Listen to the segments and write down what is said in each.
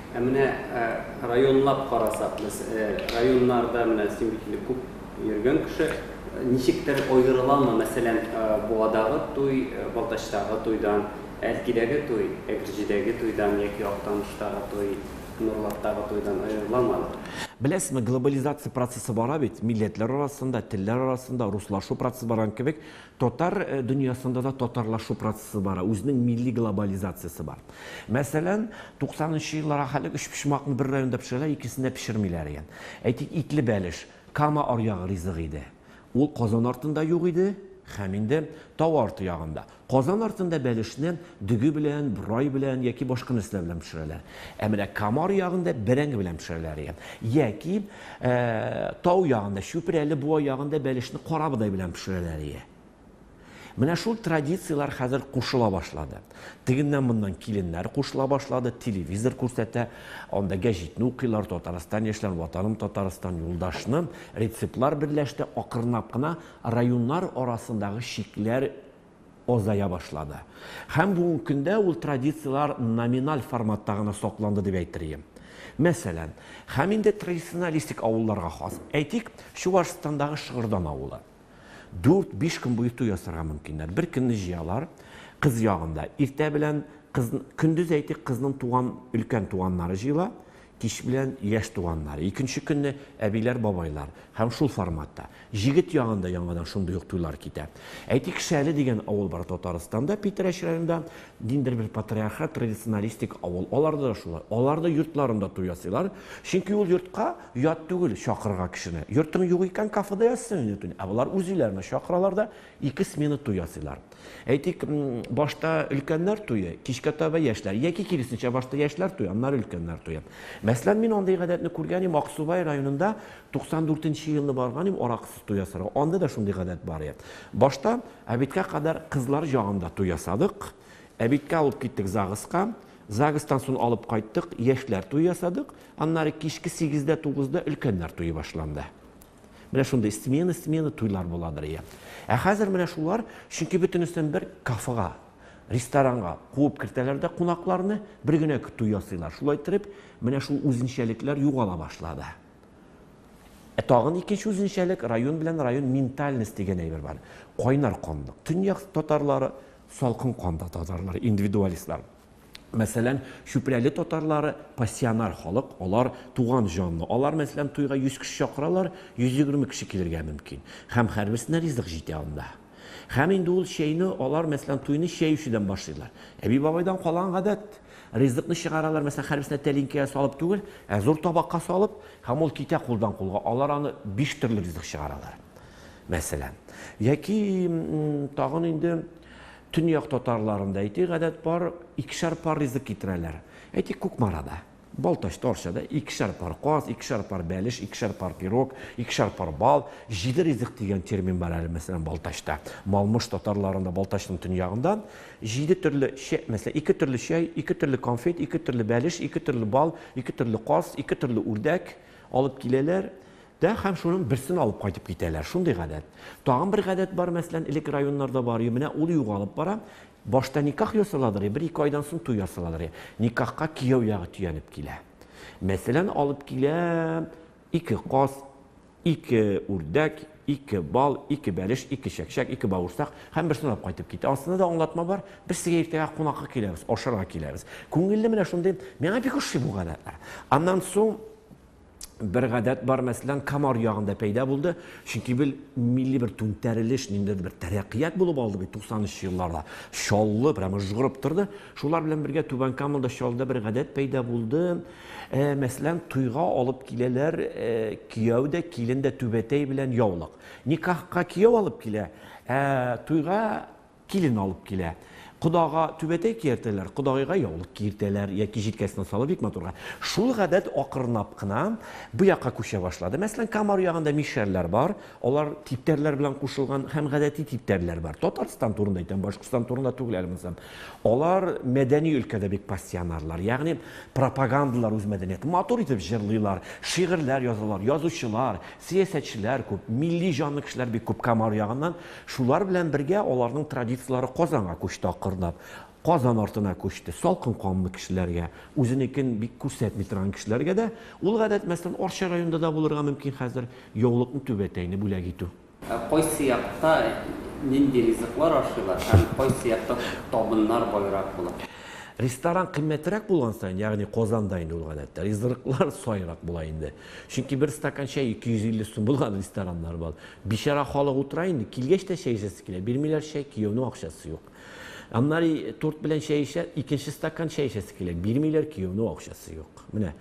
Ә менә районлап карасак, без районнарда менә син бит инде күп йөргән кеше, ничектер аерыламы, мәсәлән, Буадагы туй Балтачтагы туйдан, Әлкидәге туй Әгерҗедәге туйдан яки Актаныштагы туй Нурлаттагы туйдан аерыламы алар? Беләсезме, глобализация процессы бара бит, милләтләр арасында, телләр арасында руслашу процессы барган кебек, Татар дөньясында да татарлашу процессы бара, үзенең милли глобализациясе бар. Мәсәлән, 90 нчы еллар ахәлек өчпочмакны бер районда пешерәләр, икесендә пешермиләр икән. Әйтик, итле бәлеш, Кама аръягы ризыгы иде. Ул Казан артында юк иде һәм инде тау арты ягында. Казан артында бәлешне дөге белән, борай белән яки башка нәрсәләр белән пешерәләр. Ә менә Кама аръягында бәрәңге белән пешерәләр икән. Яки Ә, тау ягында, Чүпрәле буа ягында бәлешне карабодай белән пешерәләр ие. Менә шул традицияләр хәзер кушыла башлады. Тегеннән моннан киленнәр кушыла башлады, телевизор күрсәтә, анда гәҗитне укыйлар, Татарстан яшьләр, Ватаным Татарстан, Юлдашны, рецептлар берләште, акрынлап кына районнар арасындагы чикләр азая башлады. Һәм бүгенге көндә ул традицияләр номиналь форматта гына сакланды дип әйтер идем. Мәсәлән, һәм инде традиционалистик авылларга хас, әйтик, Чувашстандагы Шыгырдан авылы. Дүрт-биш көн буе туй ясарга мөмкиннәр. Бер көнне җыялар, кыз ягында. Иртә белән, кыз, көндез, әйтик, кызның туган, өлкән туганнары җыела, Кич белән яшь туганнар, икенче көнне әбиләр-бабайлар һәм шул форматта. Җегет ягында яңадан шундый ук туйлар китә. Әйтик, Шәле дигән авыл бар Татарстанда, Питрәч районында, ниндидер бер патриархат, традиционалистик авыл. Аларда да шулай. Алар да йортларында туй ясыйлар, чөнки ул йортка ят түгел чакырырга кешене. Йортың юк икән, кафеда ясыйсың инде туйны. Ә болар үз өйләренә чакыралар да, Ике смена туй ясыйлар. Әйтик, башта өлкәннәр туе, кичкә таба яшьләр, яки киресенчә, башта яшьләр туе, аннары өлкәннәр туе. Мәсәлән, мин андый гадәтне күргән идем, Аксубай районында 94 нче елны барган идем, аракысыз туй ясарга. Анда да шундый гадәт бар иде. Башта әбиткә кадәр кызлар ягында туй ясадык. Әбиткә алып киттек ЗАГСка. ЗАГСтан сон алып кайттык, яшьләр туе ясадык. Аннары кичке сигездә-тугызда өлкәннәр туе башланды. Менә шундый смена, смена туйлар буладыр ия. Ә хәзер менә шулар, чөнки бөтенесен бер кафега, ресторанга куып кертәләр дә кунакларны, бер генә көтү ясыйлар. Шулай итеп, менә шул үзенчәлекләр югала башлады. Ә тагын икенче үзенчәлек, район белән район ментальность дигән әйбер бар. Кайнар канлык. Төньяк татарлары, салкын канлы татарлар, индивидуалистлар. Мәсәлән, Чүпрәле татарлары пассионар халык, алар туган җанлы. Алар, мәсәлән, туйга 100 кеше чакыралар, 120 кеше килергә мөмкин. Һәм һәрберсенә ризык җитә анда. Һәм инде ул чәйне алар, мәсәлән, туйны чәй эчүдән башлыйлар. Әби-бабайдан калган гадәт. Ризыкны чыгаралар, мәсәлән, һәрберсенә тәлинкәгә салып түгел, ә зур табакка салып, һәм ул китә кулдан кулга. Алар аны биш төрле ризык чыгаралар, мәсәлән. Яки тагын инде Төньяк татарларында, әйтик, гадәт бар, икешәр пар ризык китерәләр. Әйтик, Кукмарада, Балтачта, Арчада икешәр пар каз, икешәр пар бәлеш, икешәр пар пирог, икешәр пар бал, җиде ризык дигән термин бар әле, мәсәлән, Балтачта. Малмыш татарларында, Балтачның төньягында җиде төрле чәй, мәсәлән, ике төрле чәй, ике төрле конфет, ике төрле бәлеш, ике төрле бал, ике төрле каз, ике төрле үрдәк алып киләләр. Да һәм шуның берсен алып кайтып китәләр. Шундый гадәт. Тагын бер гадәт бар, мәсәлән, элек районнарда бар иде, менә ул югалып бара. Башта никах ясаладыр и, бер-ике айдан соң туй ясаладыр и. Никахка кияү ягы төянеп килә. Мәсәлән, алып килә ике каз, ике үрдәк, ике бал, ике бәлеш, ике чәкчәк, ике бавырсак һәм берсен алып кайтып китә. Астында да аңлатма бар, без сезгә иртәгә кунакка киләбез, ашарга киләбез. Күңелле менә шундый, миңа бик ошый бу гадәтләр. Аннан соң бер гадәт бар, мәсәлән, Камар ягында пәйда булды, чөнки бил милли бер түнтәрелеш, ниндидер бер тәрәккыят булып алды бит 90 елларда. Чаллы прямо жгырып торды. Шулар белән бергә Түбән Камада Чаллыда бер гадәт пәйда булды. Э, мәсәлән, туйга алып киләләр, э, кияү дә, килен дә түбәтәй белән яулык. Никахка кияү алып килә, ә туйга Килен алып килә. Кодага түбәтәй киертәләр, кодагыйга яулык киертәләр яки җилкәсенә салып бик матурга. Шул гадәт акрынлап кына бу якка күчә башлады. Мәсәлән, Камар ягында мишәрләр бар, алар типтәрләр белән кушылган һәм гадәти типтәрләр бар. Татарстан турында әйтәм, Башкортстан турында түгел әле монысы. Алар мәдәни өлкәдә бик пассионарлар, ягъни пропагандалар үз мәдәниятен, матур итеп җырлыйлар, шигырьләр язалар, язучылар, сәясәтчеләр күп, милли җанлы кешеләр бик күп Камар ягыннан. Шулар белән бергә аларның традицияләре Казанга күчте акырынлап. Казан артына күчте. Салкын канлы кешеләргә, үзенекен бик күрсәтми торган кешеләргә дә ул гадәт, мәсәлән, Арча районында да булырга мөмкин хәзер, яулыкны, түбәтәйне бүләк итү. Ә кайсы якта нинди ризыклар ашыйлар һәм кайсы якта табыннар байрак була? Ресторан кыйммәтрәк булган саен, ягъни Казанда инде ул гадәттә, ризырыклар саерак була инде. Чөнки бер стакан чәй 250 сум булган рестораннар бар. Бичара халык утыра инде, килгәч тә чәй эчәсе килә. Бирмиләр чәй, кияүнең акчасы юк. Аннары торт белән чәй эчә, икенче стакан чәй эчәсе килә. Бирмиләр, кияүнең акчасы юк. Менә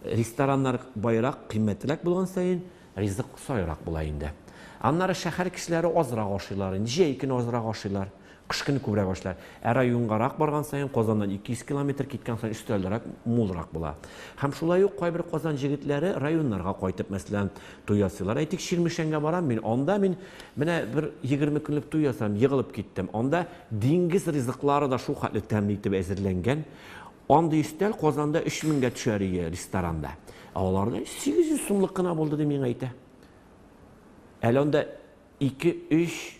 рестораннар байрак, кыйммәтрәк булган саен ризык саерак була инде. Аннары шәһәр кешеләре азрак ашыйлар инде, җәй көне азрак ашыйлар. Кыш көне күбрәк башлар. Ә районгарак барган саен, Казаннан 200 километр киткән саен өстәлрәк, мулрак була. Һәм шулай ук кайбер Казан җегетләре районнарга кайтып, мәсәлән, туй ясыйлар. Әйтик, Чирмешәнгә барам мин, анда мин менә бер 20 көнлек туй ясадым, егылып киттем. Анда диңгез ризыклары да шул хәтле тәмле итеп әзерләнгән. Андый өстәл Казанда 3000 гә төшәр ие ресторанда. Ә аларда 800 сумлык кына булды, ди миңа әйтә. Әле анда ике-өч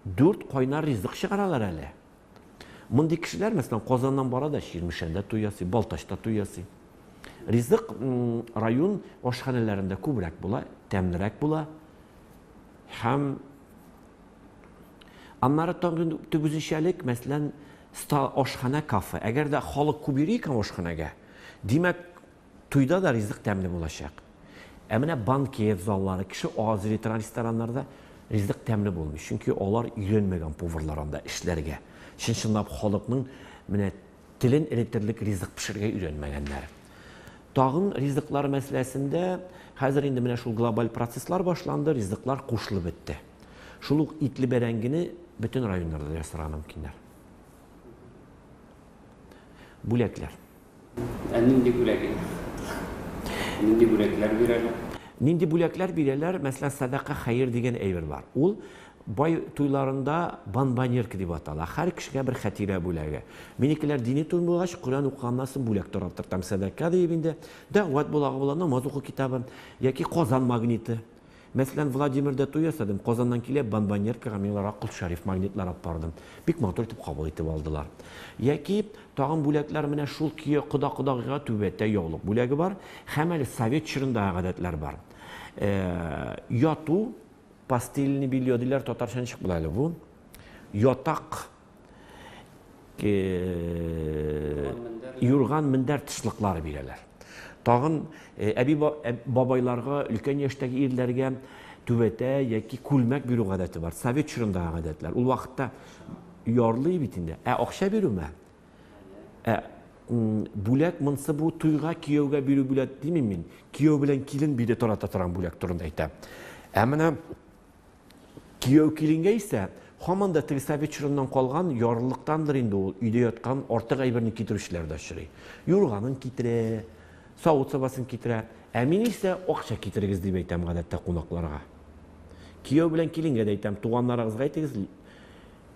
Дүрт кайнар ризык чыгаралар әле. Мондый кешеләр, мәсәлән, Казаннан бара да Чирмешәндә туй ясый, Балтачта туй ясый. Ризык район ашханәләрендә күбрәк була, тәмлерәк була. Һәм аннары тагын төп үзенчәлек, мәсәлән, ашханә кафе. Әгәр дә халык күп йөри икән ашханәгә, димәк, Туйда да ризык тәмле булачак. Ә менә банкет заллары, кеше аз йөри торган рестораннарда ризык тәмле булмый. Чөнки алар өйрәнмәгән поварлар анда эшләргә. Чын-чынлап халыкның менә телен эретерлек ризык пешерергә өйрәнмәгәннәр. Тагын ризыклар мәсьәләсендә хәзер инде менә шул глобаль процесслар башланды, ризыклар кушылып бетте. Шул ук итле бәрәңгене бөтен районнарда ясарга мөмкиннәр. Бүләкләр. Ә нинди бүләк инде? Нинди бүләкләр бирәләр? Нинди бүләкләр бирәләр? Мәсәлән, сәдака хәер дигән әйбер бар. Ул бай туйларында банбанерка дип атала. Һәр кешегә бер хәтирә бүләге. Минекеләр дини туй булгач, Коръән укыганнан бүләк тараттыртам. Сәдака диеп инде. Дәгъват булагы була, намаз уку китабы яки Казан магниты. Мәсәлән, Владимирда туй ясадым, Казаннан килеп, Бомбоньеркага миңларга Котс Шәриф магнитлары алып бардым. Бик матур итеп кабул итеп алдылар. Яки тагын бүләкләр менә шул кияү кода-кодагыйга түбәтәй, яулык бүләге бар. Һәм әле совет чорындагы гадәтләр бар. Э, яту, постельный белье диләр, татарча ничек була әле бу? Ятак юрган мендәр тышлыклары бирәләр тагын әби бабайларга өлкән яшьтәге ирләргә түбәтә яки күлмәк бирү гадәте бар совет чорындагы гадәтләр ул вакытта ярлый бит инде ә акча бирүме ә бүләк монсы бу туйга кияүгә бирү бүләк димим мин кияү белән килен биде тарата торган бүләк турында әйтәм ә менә Кияү-киленгә исә, һаман да Тресавич чорыннан калган ярлылыктандыр инде ул, өйдә яткан артык әйберне китерүчеләр дә очрый. Юрганын китерә, савыт-сабасын китерә. Ә мин исә, акча китерегез, дип әйтәм, гадәттә, кунакларга. Кияү белән киленгә дә әйтәм, туганнарыгызга әйтегез,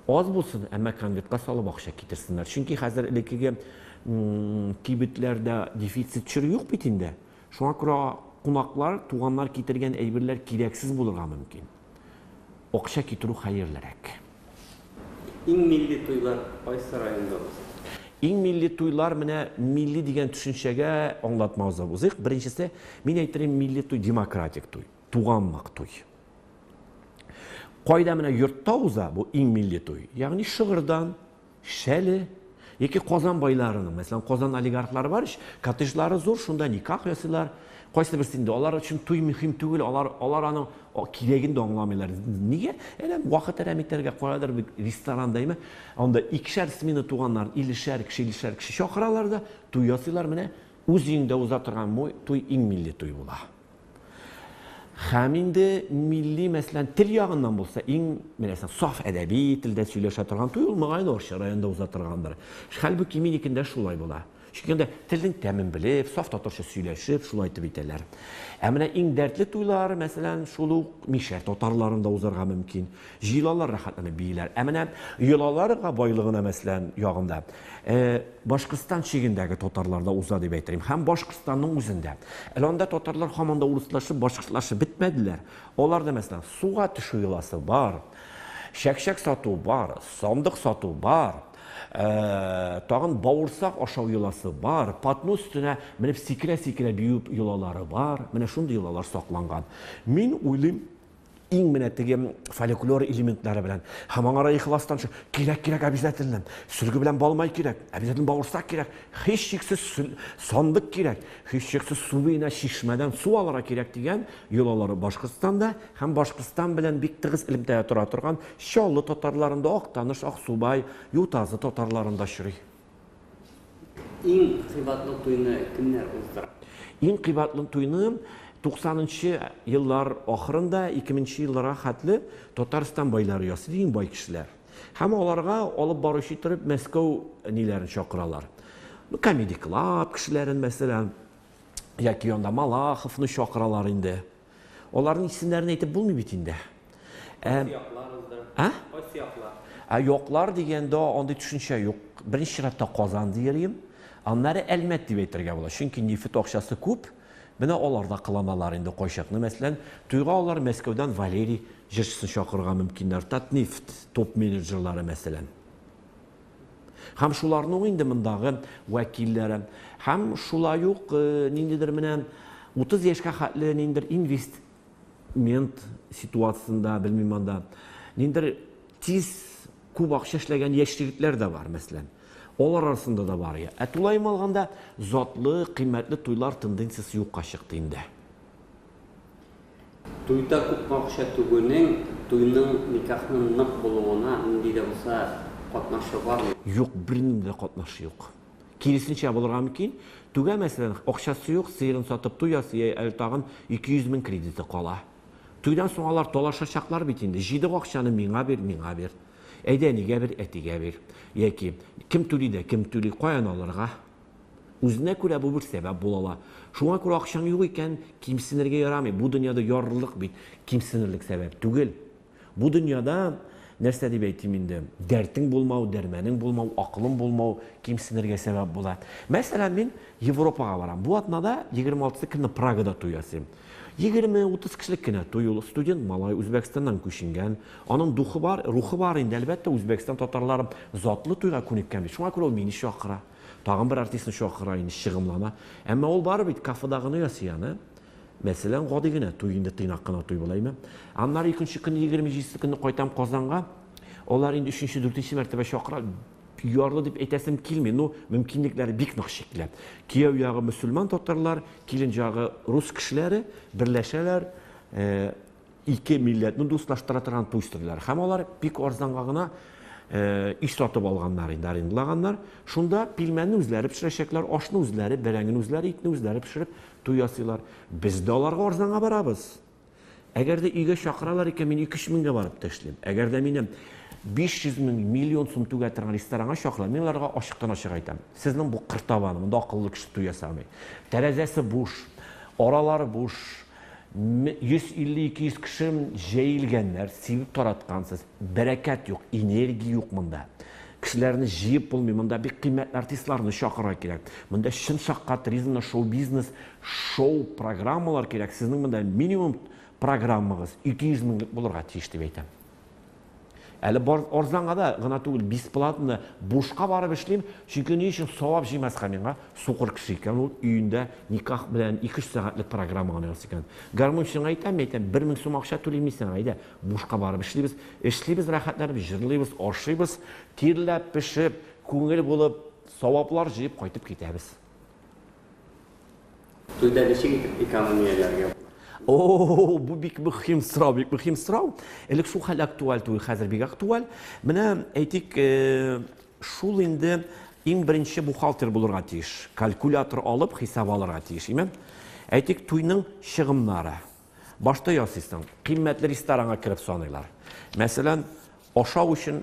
аз булсын, әмма конвертка салып акча китерсеннәр. Чөнки хәзер элеккеге кибетләрдә дефицит чоры юк бит инде. Шуңа күрә кунаклар, туганнар китергән әйберләр кирәксез булырга мөмкин. Акча китерү хәерлерәк. Иң милли туйлар кайсы районда уза? Иң милли туйлар, менә милли дигән төшенчәгә аңлатма узып узыйк. Беренчесе, мин әйтерим, милли туй, демократик туй, туганлык туй. Кайда менә йортта уза бу иң милли туй, ягъни шыгырдан, Шәле яки Казан байларының, мәсәлән, Казан олигархлары бар ич, коттеджлары зур, шунда никах ясыйлар. Кайсы берсе инде алар өчен туй мөһим түгел, алар алар аның кирәген дә аңламыйлар. Нигә? Әле вакыт әрәм итәргә каядыр бит ресторан дәйме? Анда икешәр смена туганнар, илешәр кеше, илешәр кеше чакыралар да, туй ясыйлар менә. Үз өеңдә уза торган туй иң милли туй була. Хәм инде милли, мәсәлән, тел ягыннан булса, иң беләсең, саф әдәби телдә сөйләшә торган туй ул мөгаен Орча районында уза торгандыр. Хәлбуки минекендә шулай була. Чөнки анда телнең тәмен белеп, саф татарча сөйләшеп, шулай итеп итәләр. Ә менә иң дәртле туйлар, мәсәлән, шул ук мишәр татарларында узарга мөмкин. Җыелалар, рәхәтләнеп бииләр. Ә менә йолаларга байлыгына, мәсәлән, ягында, Башкортстан чигендәге татарларда уза дип әйтелгән. Һәм Башкортстанның үзендә. Әле анда татарлар һаман да урыслашып, башкортлашып бетмәделәр. Аларда, мәсәлән, суга төшү йоласы бар, чәкчәк сату бар, сандык сату бар, тагын бавырсак ашау йоласы бар, патну өстенә менеп сикерә-сикерә бию йолалары бар. Менә шундый йолалар сакланган. Мин уйлыйм, иң менә теге фольклор элементлары белән һәм аңара ихластан кирәк кирәк обязательно сөлге белән балмай кирәк обязательно бавырсак кирәк һичшиксез сандык кирәк һичшиксез субина чишмәдән су алырга кирәк дигән йолалары башкортстанда һәм башкортстан белән бик тыгыз элемтәдә тора торган чаллы татарларында актаныш аксубай ютазы татарларында очрый Иң кыйбатлы туйны кемнәр уздыра? Иң кыйбатлы туйны 90 нчы еллар ахырында 2000 нче елларга хәтле Татарстан байлары ясый, иң бай кешеләр. Һәм аларга алып баручы иттереп Мәскәү ниләрен чакыралар. Ну, Comedy Club кешеләрен мәсәлән, яки анда Малаховны чакыралар инде. Аларның исемнәрен әйтеп булмый бит инде. Ә А? Кайсы яклар? Ә яклар дигәндә андый төшенчә юк. Беренче чиратта Казан диерим. Аннары Әлмәт дип әйтергә була. Чөнки нефть акчасы күп. Менә алар да кыланалар инде кайчакны. Мәсәлән, туйга алар Мәскәүдән Валерий җырчысын чакырырга мөмкиннәр. Татнефть топ-менеджерлары мәсәлән. Һәм шуларның инде мондагы вәкилләре. Һәм шулай ук э, ниндидер менә 30 яшькә хәтле ниндидер инвестмент ситуациясендә, белмим анда, ниндидер тиз күп акча эшләгән яшь егетләр дә бар, мәсәлән. Алар арасында да бар. Ә тулаем алганда затлы, кыйммәтле туйлар тенденциясе юкка чыкты инде. Туйда күпме акча түгүнең, туйның, никахның нык булуына нинди дә булса катнашы бармы? Юк, бернинди дә катнашы юк. Киресенчә булырга мөмкин. Түгә, мәсәлән, акчасы юк, сыерын сатып туй ясый, йә әле тагын ике йөз мең кредиты кала. Туйдан соң алар талашачаклар бит инде, җыйдык акчаны, миңа бир, миңа бир. Әйдә, әнигә бир, әтигә бир. Яки, кем түли дә, кем түли, каян алырга? Үзенә күрә бу бер сәбәп була ала. Шуңа күрә акчаң юк икән, кимсенергә ярамый. Бу дөньяда ярлылык бит кимсенерлек сәбәп түгел. Бу дөньяда, нәрсә дип әйтим инде, дәртең булмау, дәрмәнең булмау, акылың булмау кимсенергә сәбәп була. Мәсәлән, мин Европага барам. Бу атнада, 26 көнне Прагада туй ясыйм. Егерме-утыз кешелек кенә туй ул. Студент малай, Үзбәкстаннан күченгән. Аның духы бар, рухы бар инде. Әлбәттә, Үзбәкстан татарлары затлы туйга күнеккән бит. Шуңа күрә ул мине чакыра. Тагын бер артистны чакыра инде, чыгымлана. Әмма ул барыбер бит кафедагыны ясый аны. Мәсәлән, гади генә туй инде, тыйнак кына туй була, әйме? Аннары икенче көнне, егерме җидесе көнне кайтам Казанга. Алар инде өченче-дүртенче мәртәбә чакыра. Ярлы дип әйтәсем килми, ну, мөмкинлекләре бик нык чикле. Кияү ягы мөселман татарлар, килен ягы рус кешеләре берләшәләр, э, ике милләтне дуслаштыра торган туй үстерделәр. Һәм алар бик арзанга гына э, иш сатып алганнар инде, арендлаганнар. Шунда пилмәнне үзләре пешерәчәкләр, ашны үзләре, бәрәңгене үзләре, итне үзләре пешереп туй ясыйлар. Без дә аларга арзанга барабыз. Әгәр дә өйгә чакыралар икән, мин 2-3 меңгә барып та эшлим. Әгәр дә минем 500 мең, миллион сум түгә торган ресторанга чакыралар, мин аларга ачыктан ачык айтам. Сезнең бу кыртабан, монда акыллы кеше туй ясамый. Тәрәзәсе буш, аралары буш, 150-200 кеше җәелгәннәр, сибеп тараткансыз. Бәрәкәт юк, энергия юк монда. Кешеләрне җыеп булмый, монда бик кыйммәтле артистларны чакырырга кирәк. Монда чын шаккатыризмны, шоу-бизнес Шоу программалар кирәк. Сезнең монда минимум программагыз 200 меңлек булырга тиеш дип әйтәм. Әле бар арзанга да гына түгел, бесплатно бушка барып эшлим, чөнки ни өчен савап җыймаска миңа сукыр кеше икән ул өендә никах белән 2-3 сәгатьлек программа гына ясый икән. Гармунчыңа әйтәм, әйтәм, 1000 сум акча түлим мисең, әйдә, бушка барып эшлибез. Эшлибез рәхәтләнеп, җырлыйбыз, ашыйбыз, тирләп, пешеп, күңел булып, саваплар җыеп кайтып китәбез. Туйда ничек итеп экономияләргә була? О, бу бик мөһим сорау, бик мөһим сорау. Элек шул хәл актуаль түгел, хәзер бик актуаль. Менә әйтик, э, шул инде иң беренче бухгалтер булырга тиеш. Калькулятор алып хисап алырга тиеш, име? Әйтик, туйның чыгымнары. Башта ясыйсың, кыйммәтле ресторанга кереп саныйлар. Мәсәлән, ашау өчен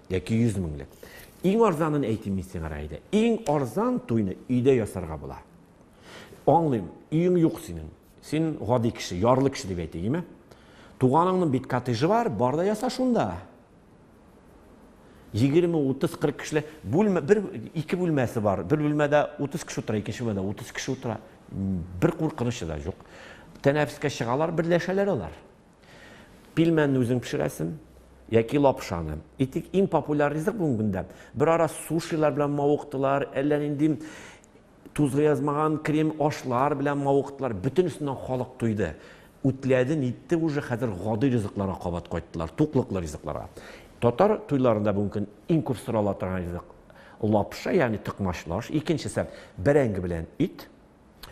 Яки йөз меңлек. Иң арзанын әйтим мин сиңа, Раидә. Иң арзан туйны өйдә ясарга була. Аңлыйм, өең юк синең. Син гади кеше, ярлы кеше дип әйтегеме? Туганыңның бит коттеджы бар, бар да яса шунда. 20, 30, 40 кешеле бүлмә, бер ике бүлмәсе бар. Бер бүлмәдә 30 кеше утыра, икенче бүлмәдә 30 кеше утыра. Бер куркынычы да юк. Тәнәфескә чыгалар, берләшәләр алар. Пилмәнне үзең пешерәсең яки лапшаны. Итек иң популяр ризык бүгенге көндә. Бер ара сушилар белән мавыктылар, әллә нинди тузга язмаган крем ашлар белән мавыктылар. Бөтенесеннән халык туйды. Үтләде, нитте уже, хәзер гади ризыкларга кабат кайттылар, туклыклы ризыкларга. Татар туйларында бүгенге көн иң күп сорала торган ризык лапша, ягъни токмач лаш. Икенчесе бәрәңге белән ит.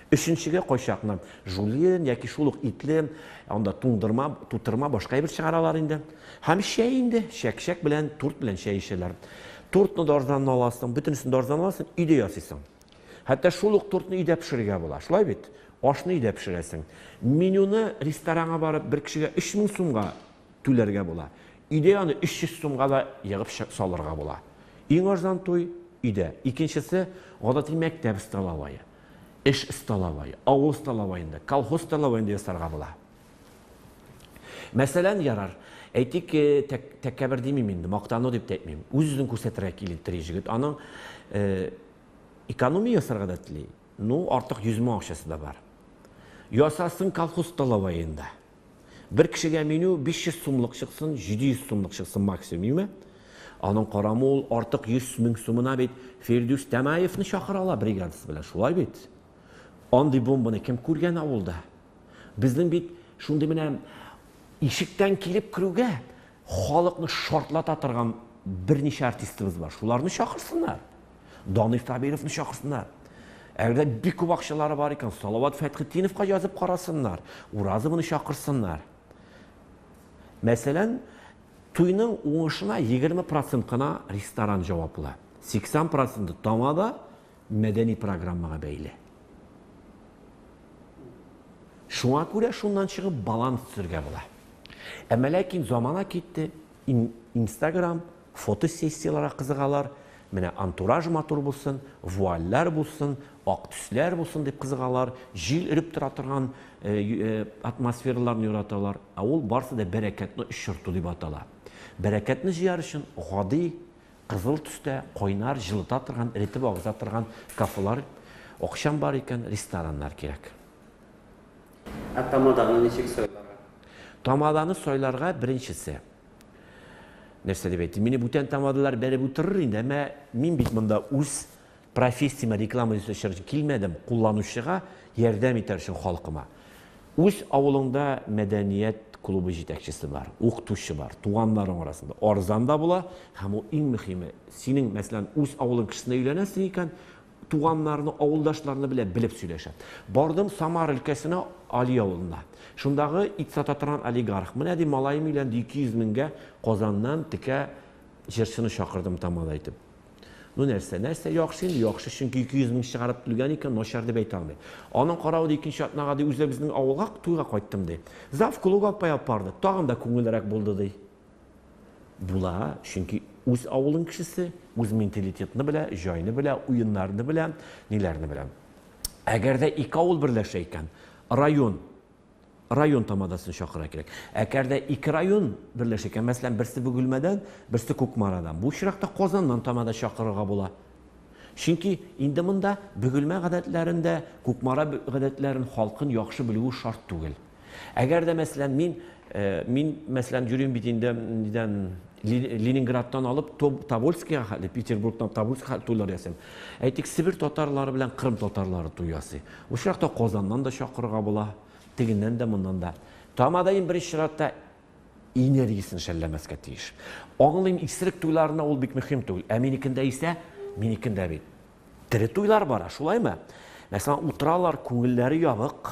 Өченчегә кайчакны жульен яки шул ук итле, анда туңдырма, тутырма, башка әйбер чыгаралар инде. Һәм чәй инде, чәкчәк белән, торт белән чәй эчәләр. Тортны да арзаннан аласың, бөтенесен дә арзаннан аласың, өйдә ясыйсың. Хәтта шул ук тортны өйдә пешерергә була. Шулай бит? Ашны өйдә пешерәсең. Менюны ресторанга барып бер кешегә 3000 сумга түләргә була. Өйдә аны 300 сумга да егып салырга була. Иң арзан туй, өйдә. Икенчесе, гадәти мәктәп столовое, эш столовое, авыл столовоенда, колхоз столовоенда ясарга була. Мәсәлән, ярар, әйтик, тәкәбер димим инде, мактану дип тә әйтмим. Үз-үзен күрсәтергә килтери җегет. Аның экономия ясарга да тели. Ну, артык 100 мең акчасы да бар. Ясасын колхоз столовоенда. Бер кешегә меню 500 сумлык чыксын, 700 сумлык чыксын максимум, юме? Аның карамы ул артык 100 мең сумына бит Фирдүс Тәмаевны чакыра ала бригадасы белән, шулай бит? Андый бомбаны кем күргән авылда? Безнең бит шундый менә ишектән килеп керүгә Халыкны шартлата торган берничә артистыбыз бар. Шуларны чакырсыннар. Данил Сабировны чакырсыннар. Әгәр дә бик күп акчалары бар икән, Салават Фәтхетдиновка язып карасыннар. Уразовны чакырсыннар. Мәсәлән, туйның уңышына 20 процент кына ресторан җаваплы. 80 проценты тамада, мәдәни программага бәйле. Шуңа күрә шуннан чыгып баланс төзергә була. Әмма ләкин замана китте, Инстаграм, фотосессияләргә кызыгалар, менә антураж матур булсын, вуальләр булсын, ак төсләр булсын дип кызыгалар, җил өреп тора торган э, э, атмосфераларны яраталар. Ә ул барсы да бәрәкәтне очырту дип атала. Бәрәкәтне җыяр өчен гади Кызыл төстә, кайнар, җылыта торган, эретеп агыза торган кафелар, акчаң бар икән, рестораннар кирәк. Ә тамаданы ничек сайларга? Тамаданы сайларга беренчесе. Нәрсә дип әйтим, мине бүтән тамадалар бәреп утырыр инде, әмма мин бит монда үз Профессиямә реклама ясау өчен килмәдем, кулланучыга ярдәм итәр өчен халкыма. Үз авылыңда мәдәният клубы җитәкчесе бар, укытучы бар, туганнарың арасында арзан да була һәм ул иң мөһиме, синең, мәсәлән, үз авылың кешесенә өйләнәсең икән, туганнарны, авылдашларны белә, белеп сөйләшә. Бардым Самара өлкәсенә, Али авылына. Шундагы ит сата торган олигарх, менә ди, малаем өйләнде, 200 меңгә Казаннан текә җырчыны чакырдым Тамада итеп. Ну нәрсә, нәрсә яхшы инде, яхшы, чөнки 200 мең чыгарып түлгән икән, начар дип әйтә алмыйм. Аның каравы да икенче атнага ди үзләр безнең авылга туйга кайттым ди. Зав клуб апай алып барды, тагын да күңеллерәк булды ди. Була, чөнки үз авылың кешесе, үз менталитетны белә, җайны белә, уеннарны белә, ниләрне белә. Әгәр дә ике авыл берләшә икән, район район тамадасын чакыра кирәк. Әгәр дә ике район берләшә икән, мәсәлән, берсе Бөгелмәдән, берсе Кукмарадан, бу очракта Казаннан тамада чакырырга була. Чөнки инде монда Бөгелмә гадәтләрен дә, Кукмара гадәтләрен, халкын яхшы белүе шарт түгел. Әгәр дә, мәсәлән, мин э, мин, мәсәлән, йөрим бит инде нидән Ленинградтан алып Тобольскига хәтле, Петербургтан Тобольскига хәтле туйлар ясыйм. Әйтик, Себер татарлары белән Кырым татарлары туй ясый. Очракта Казаннан да чакырырга була, тегеннән дә, моннан да. Тамадаем беренче чиратта энергиясен шәлләмәскә тиеш. Аңлыйм, исерек туйларына ул бик мөһим түгел, ә минекендә исә, минекендә бит тере туйлар бара, шулаймы? Мәсәлән, утыралар, күңелләре ябык,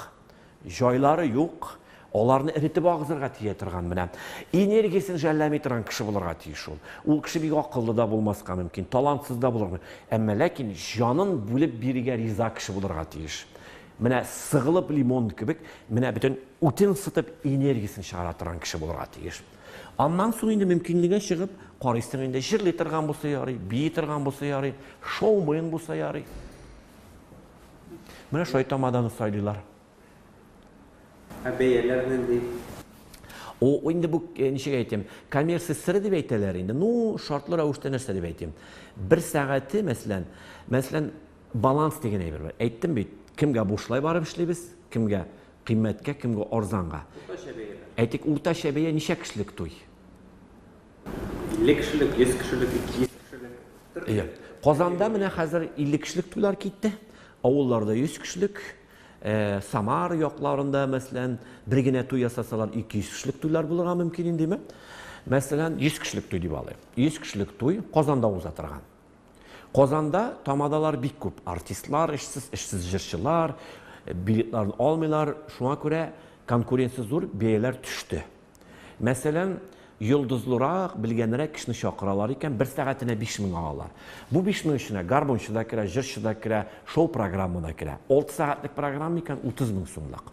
җайлары юк, Аларны эретеп агызырга тия торган менә энергиясен жәлләми торган кеше булырга тиеш ул. Ул кеше бик акыллы да булмаска мөмкин, талантсыз да булырга мөмкин. Әмма ләкин җанын бүлеп бирергә риза кеше булырга тиеш. Менә сыгылып лимон кебек, менә бөтен үтен сытып энергиясен чыгара торган кеше булырга тиеш. Аннан соң инде мөмкинлеге чыгып, карыйсың инде җырлый торган булса ярый, бии торган булса ярый, шоумен булса ярый. Менә шулай тамаданы сайлыйлар. Ә бәяләр нинди? О, инде бу э, ничек әйтим, коммерция сыры дип әйтәләр инде. Ну, шартлы рәвештә нәрсә дип әйтим. Бер сәгате, мәсәлән, мәсәлән, баланс дигән әйбер бар. Әйттем бит, кемгә бушлай барып эшлибез, кемгә кыйммәткә, кемгә арзанга. Уртача бәя. Әйтик, уртача бәя ничә кешелек туй? 50 кешелек, 100 кешелек, 200 кешелек. Иә. Казанда менә хәзер 50 кешелек туйлар китте. Авылларда 100 кешелек, Ә Самар якларында, мәсәлән, бер генә туй ясасалар, 200 кешелек туйлар булырга мөмкин индеме? Мәсәлән, 100 кешелек туй дип алыйк. 100 кешелек туй Казанда уза торган. Казанда тамадалар бик күп. Артистлар эшсез, эшсез җырчылар, билетларын алмыйлар. Шуңа күрә конкуренция зур, бәяләр төште. Мәсәлән, йолдызлырак, белгәнрәк кешене чакыралар икән, бер сәгатенә биш мең алалар. Бу биш мең эченә гармунчы да керә, җырчы да керә, шоу программа да керә. Алты сәгатьлек программа икән, утыз мең сумлык.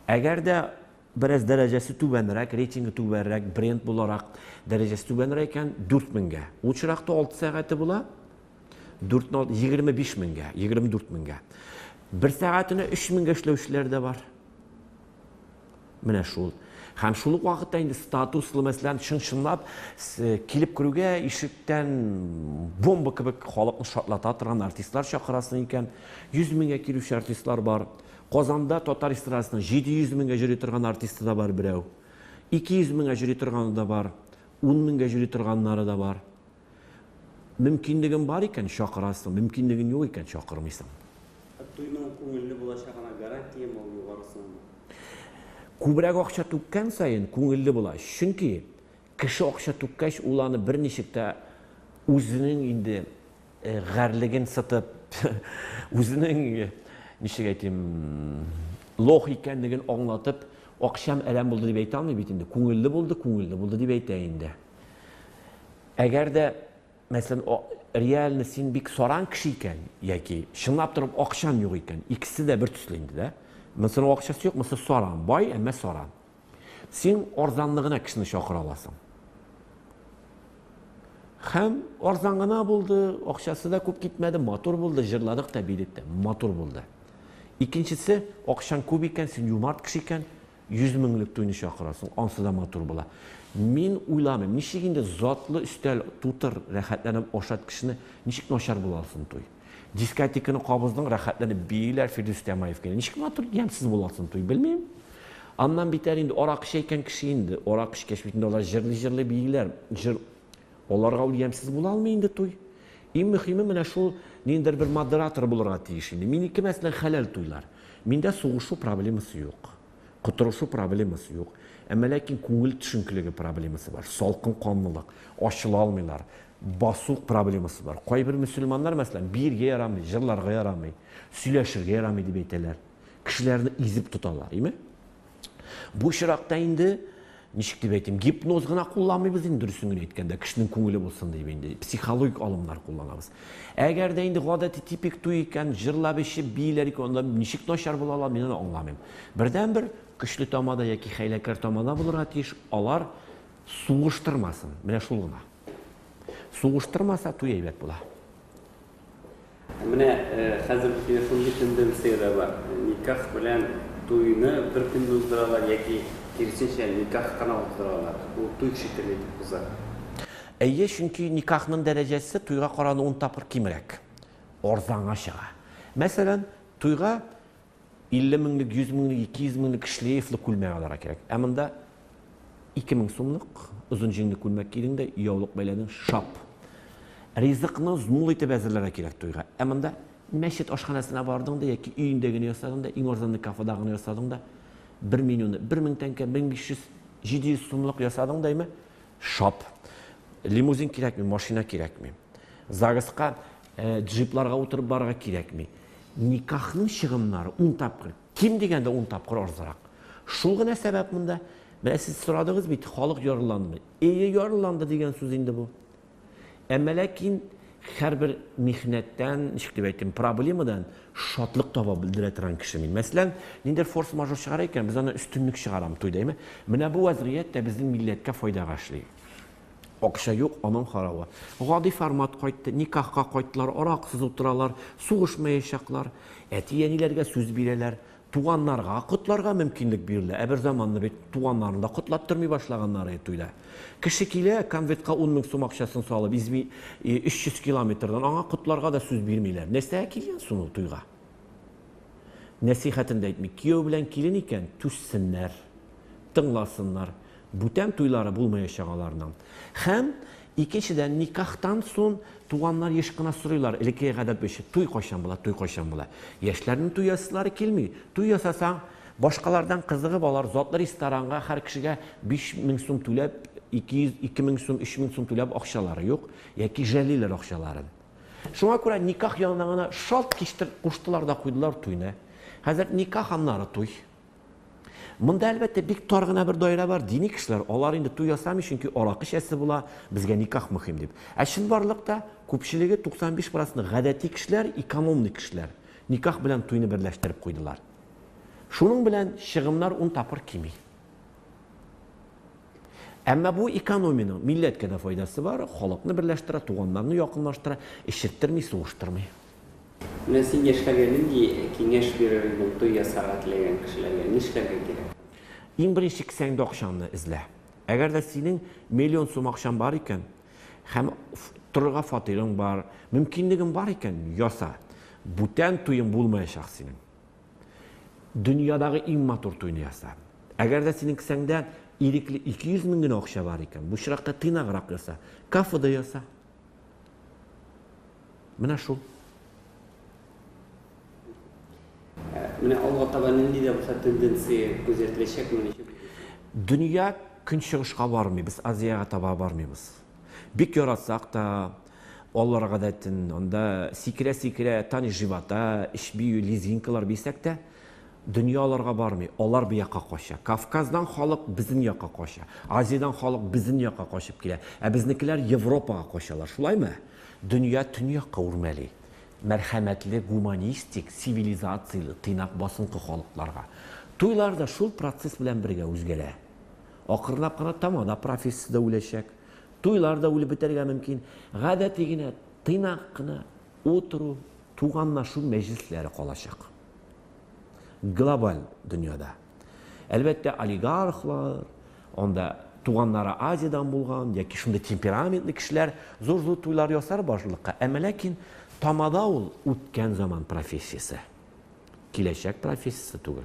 Әгәр дә бераз дәрәҗәсе түбәнрәк, рейтингы түбәнрәк, бренд буларак дәрәҗәсе түбәнрәк икән, дүрт меңгә. Ул чиракта алты сәгате була, дүртне алды, егерме биш меңгә, егерме дүрт меңгә. Бер сәгатенә өч меңгә эшләүчеләр дә бар. Менә шул. Һәм шул ук вакытта инде статуслы, мәсәлән, чын-чынлап килеп керүгә ишектән бомба кебек халыкны шатлата торган артистлар чакырасың икән. 100 меңгә килүче артистлар бар. Казанда татар эстрадасының 700 меңгә җөри торган артисты да бар берәү. 200 меңгә җөри торганы да бар, 10 меңгә җөри торганнары да бар. Мөмкинлегең бар икән, чакырасың, мөмкинлегең юк икән, чакырмыйсың. Ә туйның күңелле булачагына гарантиямы ул югарысынмы? Күбрәк акча түккән саен, күңелле була. Чөнки кеше акча түккәч, ул аны берничек тә үзенең инде гарьлеген сытып, үзенең, ничек әйтим, лох икәнлеген аңлатып, акчам әрәм булды дип әйтә алмый бит инде. Күңелле булды, күңелле булды дип әйтә инде. Әгәр дә, мәсәлән, реально син бик саран кеше икән, яки чынлап торып акчаң юк икән, икесе дә бер төсле инде, да? Монысы акчасы юк, монысы саран, бай, әмма саран. Син арзанны гына кешене чакыра аласың. Хәм арзан гына булды, акчасы да күп китмәде, матур булды, җырладык та, билек матур булды. Икенчесе, акчаң күп икән, син юмарт кеше икән, Йөз меңлек туйны чакырасың, ансы да матур була. Мин уйламыйм, ничек инде затлы өстәл тутыр, рәхәтләнеп ашат кешене, ничек начар була алсын туй? Дискотеканы кабыздың, рәхәтләнеп бииләр Фирдүс Тямаев кенә. Ничек матур, ямьсез була алсын туй, белмим. Аннан битәр инде аракы чәйкән кеше инде, аракы эчкәч бит инде алар җырлый-җырлый бииләр, җыр Аларга ул ямьсез була алмый инде туй. Иң мөхиме менә шул ниндидер бер модератор булырга тиеш инде. Минеке мәсәлән хәләл туйлар. Миндә сугышу проблемасы юк. Котырышу проблемасы юк. Әмма ләкин күңел төшенкелеге проблемасы бар. Салкын канлылык, ачыла алмыйлар. Басу проблемасы бар. Кайбер мөселманнар мәсәлән биергә ярамый, җырларга ярамый, сөйләшергә ярамый дип әйтәләр. Кешеләрне изеп тоталар, име? Бу очракта инде ничек дип әйтим, гипноз гына кулланмыйбыз инде дөресен генә әйткәндә, кешенең күңеле булсын дип инде психологик алымнар кулланабыз. Әгәр дә инде гадәти типик туй икән, җырлап ичеп бииләр икән, анда ничек начар була ала, мин аны аңламыйм. Бердәнбер көчле тамада яки хәйләкәр тамада булырга тиеш, алар сугыштырмасын. Менә шул гына. Сугыштырмаса туй әйбәт була. Менә хәзер шундый тенденция дә бар, никах белән туйны бер көндә уздыралар яки, киресенчә, никах кына уздыралар, ул туй шикелле итеп уза. Әйе, чөнки никахның дәрәҗәсе туйга караганда ун тапкыр кимрәк, арзанга чыга. Мәсәлән, туйга 50 меңлек, 100 меңлек, 200 меңлек шлейфлы күлмәк алырга кирәк. Ә монда 2000 сумлык озын җиңле күлмәк кидең дә, яулык бәйләдең, шап. Ризыкны змул итеп әзерләргә кирәк туйга. Ә монда мәчет ашханәсенә бардың да яки өендә генә ясадың да, иң арзанлы кафеда гына ясадың да, бер менюны 1000 тәңкә, 1500, 700 сумлык ясадың да, әйме, шап. Лимузин кирәкми, машина кирәкми. Загыска Ә, джипларга утырып барырга кирәкми. Никахның чыгымнары ун тапкыр, ким дигәндә ун тапкыр арзырак. Шул гына сәбәп монда. Менә сез сорадыгыз бит, халык ярылландымы? Эйе, ярылланды дигән сүз инде бу. Әмма ләкин һәрбер михнәттән, ничек дип әйтим, проблемадан шатлык таба белдерә торган кеше мин. Мәсәлән, ниндер форс-мажор чыгара икән, без аны өстенлек чыгарам туйда, әйме? Менә бу вазгыять тә безнең милләткә файдага эшли. Акча юк, аның харавы. Гади формат кайтты, никахка кайттылар, аракысыз утыралар, сугышмаячаклар. Әти-әниләргә сүз бирәләр. Туганнарга котларга мөмкинлек бирелә. Ә берзаманны бит туганнарны да котлаттырмый башлаганнары туйда. Кеше килә, конвертка ун мең сум акчасын салып, изми 300 километрдан, аңа котларга да сүз бирмиләр. Нәрсәгә килгән сон ул туйга? Нәсыйхәтен дә әйтми. Кияү белән килен икән, түзсеннәр, тыңласыннар. Бүтән туйлары булмаячак аларның. Һәм, икенчедән, никахтан сон туганнар еш кына сорыйлар, элеккеге гадәт буенча, туй кайчан була, туй кайчан була. Яшьләрнең туй ясыйлары килми. Туй ясасаң, башкалардан кызыгып алар, затлы ресторанга һәр кешегә биш мең сум түләп, ике йөз, ике мең сум, өч мең сум түләп акчалары юк, яки жәллиләр акчаларын. Шуңа күрә никах янына гына шалт киштер куштылар да куйдылар туйны. Хәзер никах аннары туй. Монда әлбәттә бик тар гына бер даирә бар, дини кешеләр, алар инде туй ясамый, чөнки аракы чәсе була, безгә никах мөһим дип. Ә чынбарлыкта күпчелеге 95 проценты гадәти кешеләр, экономный кешеләр никах белән туйны берләштереп куйдылар. Шуның белән чыгымнар ун тапкыр кими. Әмма бу экономиянең милләткә дә файдасы бар, халыкны берләштерә, туганнарны якынлаштыра, эчерттерми, сугыштырмый. Менә син яшьләргә нинди киңәш бирер идең туй ясарга теләгән кешеләргә, нишләргә кирәк? Иң беренче кесәңдә акчаңны эзлә. Әгәр дә синең миллион сум акчаң бар икән һәм торырга фатирың бар, мөмкинлегең бар икән, яса. Бүтән туең булмаячак синең. Дөньядагы иң матур туйны яса. Әгәр дә синең кесәңдә ирекле 200 мең генә акча бар икән, бу очракта тыйнаграк яса, кафеда яса. Менә шул. Менә алга таба нинди дә булса тенденция күзәтеләчәк моны ничек күзәтәсез? Дөнья көнчыгышка бармый, без Азиягә таба бармыйбыз. Бик яратсак та, алар гадәтен, анда сикерә-сикерә Тани Живота, эч бию, лезгинкалар бисәк тә, дөнья аларга бармый, алар бу якка кача. Кавказдан халык безнең якка кача, Азиядән халык безнең якка качып килә, ә безнекеләр Европага качалар, шулаймы? Дөнья төньякка үрмәли. Мәрхәмәтле, гуманистик, цивилизацияле, тыйнак басынкы халыкларга. Туйлар да шул процесс белән бергә үзгәрә. Акрынлап кына тамада профессия дә үләчәк. Туйлар да үлеп бетәргә мөмкин. Гадәти генә, тыйнак кына утыру, туганлашу мәҗлесләре калачак. Глобаль дөньяда. Әлбәттә, олигархлар, анда туганнары Азиядән булган яки шундый темпераментлы кешеләр зур-зур туйлар ясар башлыкка. Әмма ләкин тамада ул үткән заман профессиясе. Киләчәк профессиясе түгел.